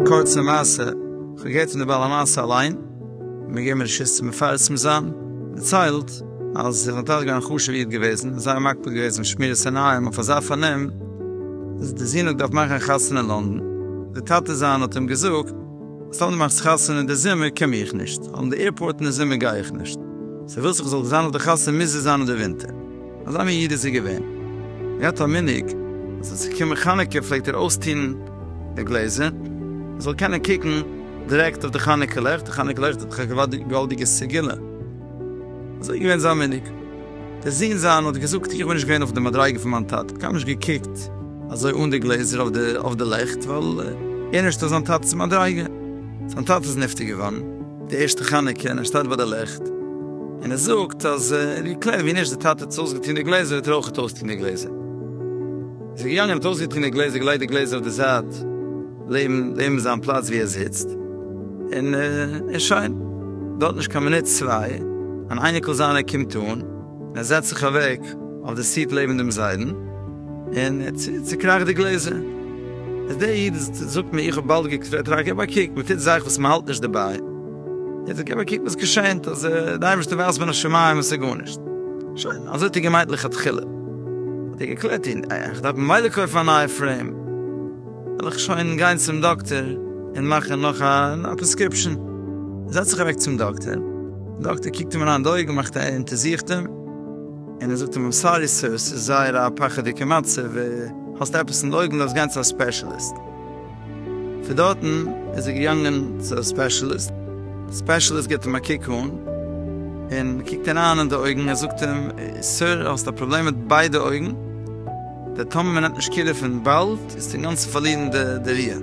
קורצע מעשה, איך האב געהערט פון די בעל המעשה אליין, מיר געבן מיר שיס צו מפרסם זיין, דערציילט אז זיי זענען טאקע געווען א חשובע איד געוועזן, זייער מקפיד געוועזן אויף שמירת עיניים אויף אזא פארנעם, אז די זון האט געדארפט מאכן א חתונה אין לונדון, די טאטע זיינע האט אים געזאגט, סתם די מאכסט חתונה אין די זומער קום איך נישט, און די עירפארט אין די זומער גיי איך נישט. סא ווילסט איך זאל זיין אויף די חתונה מוז עס זיין אין די ווינטער. אזא מין איד איז ער געווען. ער האט א מנהג אז ווען ס'איז געקומען חנוכה פלעגט ער אויסטון די גלעזער ער זאל קענען קוקן דירעקט אויף די חנוכה לעכט, די חנוכה לעכט האט דאך א געוואלדיגע סגולה. אזוי איז געווען זיין מנהג. דער זון זיין האט געזאגט, איך בין נישט געווען אויף די מדריגה פון מיין טאטע, קיינמאל נישט געקוקט אזוי אן די גלעזער אויף די לעכט, ווייל ער נישט אויף זיין טאטע'ס מדריגה. זיין טאטע איז נפטר געווארן די ערשטע חנוכה און ער שטייט ביי די לעכט און ער זאגט אז ער האט געקלערט ווי נישט די טאטע האט אויסגעטון די גלעזער וועט ער אויך אויסטון די גלעזער. איז ער געגאנגען און האט אויסגעטון די גלעזער, געלייגט די גלעזער אויף די זייט. לעבן לעבן זיין פלאץ ווי ער זיצט, און און שוין. דארט נישט קיין מינוט צוויי, אן אייניקל זיינער קומט אן, און ער זעצט זיך אוועק אויף די סיט לעבן דעם זיידן, און ער צוקראכט די גלעזער. איז דער איד זאגט מיר, איך האב באלד געקוקט אויף עטרה, גיב א קוק, מען טוט זאכן וואס מען האלט נישט דערביי. ער זאגט, גיב א קוק וואס געשענט, אז די אייבערשטער ווייזט מיר א שמים עס איז גארנישט. שוין, אזוי האט ער געמיינט לכתחילה. האט ער געקלערט, איך דארף ממילא קויפן א נייע פרעים. וועל איך שוין גיין צום דאקטער און מאכן נאך א פרעסקריפשאן. ער זעצט זיך אוועק צום דאקטער, דער דאקטער קוקט אים אריין אין די אויגן, מאכט א אונטערזוכט אים, און ער זאגט אים איים סארי סער, ס'איז זייער א פחד'דיגע מצב, האסט עפעס אין די אויגן, דארפסט גיין צו א ספעשעליסט. פון דארטן איז ער געגאנגען צו א ספעשעליסט, דער ספעשעליסט גיבט אים א קוק אן, און קוקט אים אריין אין די אויגן, ער זאגט אים, סער, האסט א פראבלעם מיט ביידע אויגן, די טאמער מען נעמט נישט קעיר דערפון באלד איז ט'ן גאנצן פארלירן די די ריה.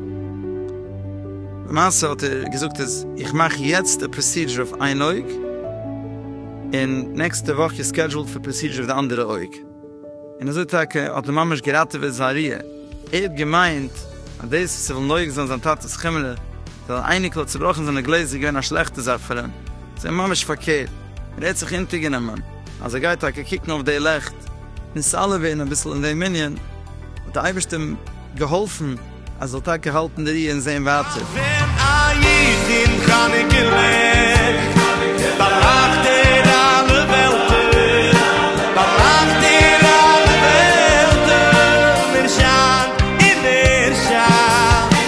למעשה האט ער געזאגט אז איך מאך יעצט די פראסידזשער אויף איין אויג און נעקסטע וואך איז סקעדזשועלד פאר פראסידזשער אויף די אנדערע אויג און אזוי טאקע האט ער ממש געראטעוועט זיין ריה. ער האט געמיינט אז דאס וואס ער וויל נוהג זיין זיין טאטעס חמלה ווייל אן אייניקל האט צובראכן זיינע גלעזער איז געווען א שלעכטע זאך פאר אים. זיי ממש פארקערט, ער האט זיך אונטערגענומען אז ער גייט טאקע קוקן אויף די לעכט און סאלעווע און אביסל אין דעם ענין האט די אייבערשטער אים געהאלפן אז ער זאל טאקע האלטן די רי און זען ווייטער.